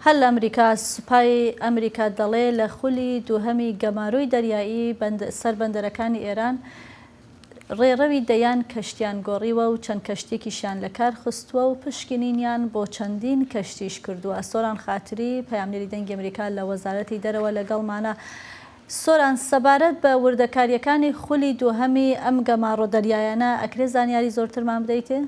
هەر لە ئەمریکا، سوپای ئەمریکا دەڵێ لە خولی دووهەمی گەمارۆی دەریایی سەر بەندەرەکانی ئێران ڕێڕەوی دەیان کەشتیان گۆڕیوە و چەند کەشتییەکیشیان لە کار خستووە و پشکنینیان بۆ چەندین کەشتیش کردووە. سۆران خاتری، پەیامنێری دەنگی ئەمریکا لە وەزارەتی دەرەوە لەگەڵمانە. سۆران، سەبارەت بە وردەکارییەکانی خولی دووهەمی ئەم گەماڕۆ دەریایانە ئەکرێ زانیاری زۆرترمان بدەیتێ؟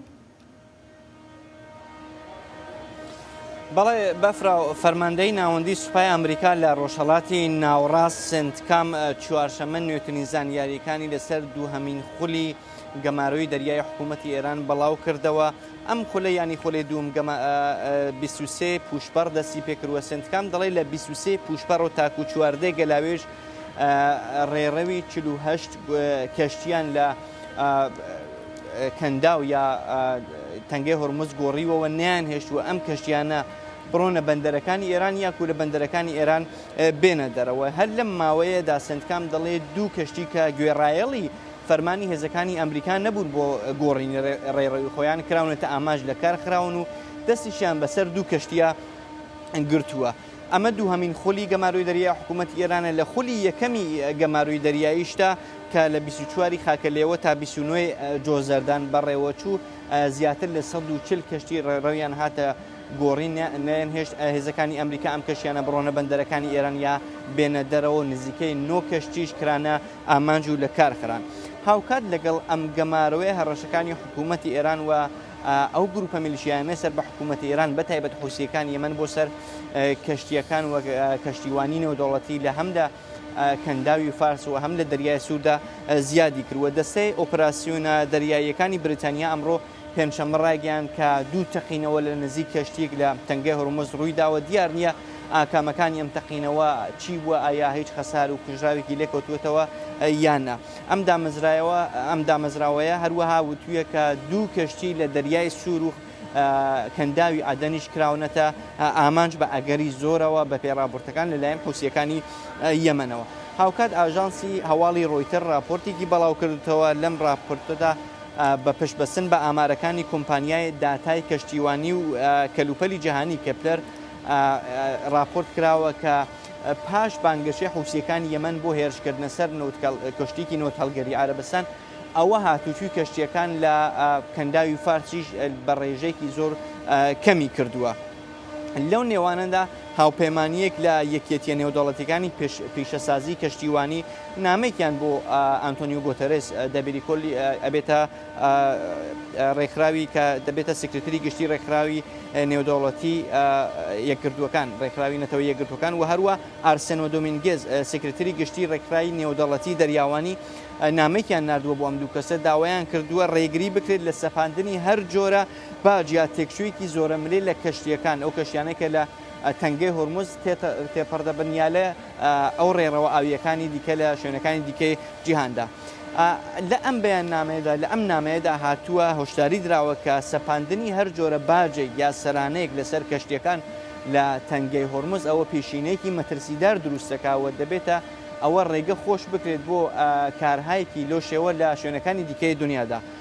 بەڵێ بەفرە و فەرماندەی ناوەندی سوپای ئەمریکا لە ڕۆژهەڵاتی ناوەڕاست سنتکام چوارشەمە نوێترین زانیاریەکانی لەسەر دووهەمین خولی گەمارۆی دەریای حکوومەتتی ئێران بەڵاو کردەوە ئەم خولە ینی خۆلی دوم گەمە بیسوسێ پوشپەڕ دەستی پێکردوە سنتکام دەڵی لە بیسوسێ پوشپەڕ و تاکو چواردێ گەلاوێژ ڕێڕەوی چلوهشت کەشتیان لە کەنداو یا تەنگەی هۆرمز گۆڕیوەوە نەیانهێشتووە ئەم کەشتیانە بڕۆنە بەندەرەکانی ئێران یاکو لە بەندەرەکانی ئێران بێنە دەرەوە هەر لەم ماوەیەدا سندکام دەڵێ دوو کەشتی کە گوێڕایەڵی فەرمانی هێزەکانی ئەمریکا نەبوون بۆ گۆڕین ڕێڕەوی خۆیان کراونەتە ئاماژ لە کار خراون و دەستیشیان بەسەر دوو کەشتیە گرتووە. ئەمە دووهەمین خولی گەمارۆی دەریایی حکوومەتی ئێرانە، لە خولی یەکەمی گەمارۆی دەریاییشدا کە لە بیست و چوار ی خاکەلێوە تا بیست و نۆ ی جۆزەردان بەڕێوەچوو، زیاتر لە سەد و چل کەشتی ڕێڕەویان هاتە گۆڕین نەیانهێشت هێزەکانی ئەمریکا ئەم کەشتیانە بڕۆنە بەندەرەکانی ئێران یا بێنە دەرەوە، نزیکەی نۆ کەشتیش کرانە ئامانج و لەکارخران. هاوکات لەگەڵ ئەم گەمارۆیە هەڕەشەکانی حکوومەتی ئێران و. ئەو گروپە میلیشیایانەی سەر بە حکوومەتی ئێران بە تایبەت حوسییەکانی یەمەن بۆ سەر کەشتییەکان و کەشتیوانی نێودەوڵەتی لە هەم لە کەنداوی فارس و هەم لە دەریای سووردا زیادی کرد و دەستەی ئۆپراسیۆنە دەریاییەکانی بریتانیا ئەمڕۆ پێنجشەممە ڕایگەیاند کە دوو تەقینەوە لە نزیک کەشتییەک لە تەنگەی هورمز ڕووی داوە دیار نییە ئاکامەکانی ئەم تەقینەوە چی بووە ئایا هیچ خەسار و کوژراوێکی لێکەوتووەتەوە یان نا. ئەم دامەزراوەیە هەروەها وتوویە کە دوو کەشتی لە دەریای سوور و کەنداوی عەدەنیش کراونەتە ئامانج بە ئەگەری زۆرەوە بەپێی ڕاپۆرتەکان لەلایەن حوسییەکانی یەمەنەوە. هاوکات ئاژانسی هەواڵی ڕۆیتەر ڕاپۆرتێکی بەڵاوکردووتەوە، لەم ڕاپۆرتەدا بە پشتبەستن بە ئامارەکانی کۆمپانیای داتای کەشتیوانی و کەلوپەلی جیهانی کێپلەر ڕاپۆرت کراوە کە پاش بانگەشەی حوسییەکانی یەمەن بۆ هێرشکردنە سەر کەشتییەکی نەوتهەڵگری عەرەبستان، ئەوە هاتووچووی کەشتییەکان لە کەنداوی فارسیش بە ڕێژەیەکی زۆر کەمی کردووە. لەو نێوانەدا هاوپەیمانییەک لە یەکیەتییە نێودەوڵەتییەکانی پیشەسازیی کەشتیوانی نامەیەکیان بۆ ئانتۆنیۆ گۆتەرێس دەبیری کۆلی ئەبێتە ڕێکخراوی کە دەبێتە سکرتری گشتی ڕێکخراوی نێودەوڵەتی یەکگرتووەکان ڕێکخراوی نەتەوە یەکگرتوەکان و هەروە ئارسنۆ دۆمینگز سکرتری گشتی ڕێکخراوی نێودەڵەتی دەریاوانی نامێکیان نردووە بۆ ئەم دوو کەسە داوایان کردووە ڕێگری بکرێت لە سەپاندنی هەر جۆرە باجیا تێکچوویەکی زۆرە ملێ لە کەشتیەکان ئەو کەشیانێکە لە تەنگەی هورمز تێپەڕ دەبن یا لە ئەو ڕێڕەوە ئاوییەکانی دیکە لە شوێنەکانی دیکەی جیهاندا. لە ئەم بەیاننامەیەدا لە ئەم نامەیەدا هاتووە هۆشداری دراوە کە سەپاندنی هەر جۆرە باجێک یا سەرانەیەک لەسەر کەشتییەکان لە تەنگەی هورمز ئەوە پیشینەیەکی مەترسیدار دروست دەکات و دەبێتە ئەوە ڕێگە خۆش بکرێت بۆ کارهایەکی لەو شێوە لە شوێنەکانی دیکەی دنیادا.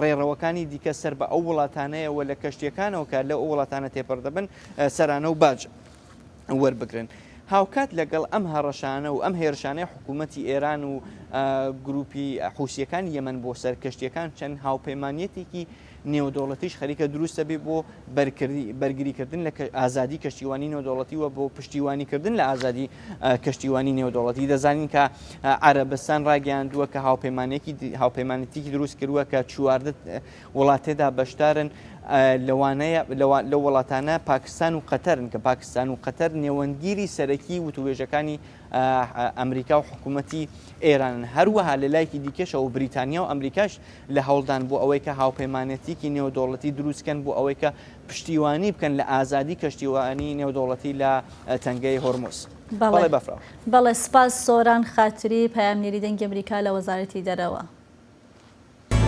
ڕێڕەوەکانی دیکە سەر بە ئەو وڵاتانەیە و لە کەشتیەکانەوە کە لەو وڵاتانە تێپەڕ دەبن سەرانە و باج وەربگرن. هاوکات لەگەڵ ئەم هەڕەشانە و ئەم هێرشانەی حکوومەتی ئێران و گرووپی حووسییەکانی یەمەن بۆ سەر کەشتییەکان چەند هاوپەیمانیەتێکی نێودەوڵەتیش خەریکە دروست دەبێت بۆ بەرگریکردن لە ئازادی کەشتیوانی نێودەوڵەتی و بۆ پشتیوانیکردن لە ئازادی کەشتیوانی نێودەوڵەتی دەزانین کە عربستان ڕاگەیاندووە کە هاوپەیمانێکی هاوپەیمانەتیکی دروست کردووە کە چواردە وڵاتێدا بەشدارن لەوانەیە لە وڵاتانە پاکستان و قەتەرن کە پاکستان و قەتەر نێوەندگیری سەرەکی وتوێژەکانی ئەمریکا و حکومەتی ئێرانن، هەروەها لە لایکی دیکەشەوە بریتانیا و ئەمریکاش لە هەوڵدان بۆ ئەوەی کە هاوپەیمانێتییەکی نێودەوڵەتی دروست کەن بۆ ئەوەی کە پشتیوانی بکەن لە ئازادی کەشتیوانی نێودەوڵەتی لە تەنگەی هۆرمز. بەڵێ بەفرە. بەڵێ سپاس سۆران خاتری پەیامنێری دەنگی ئەمریکا لە وەزارەتی دەرەوە.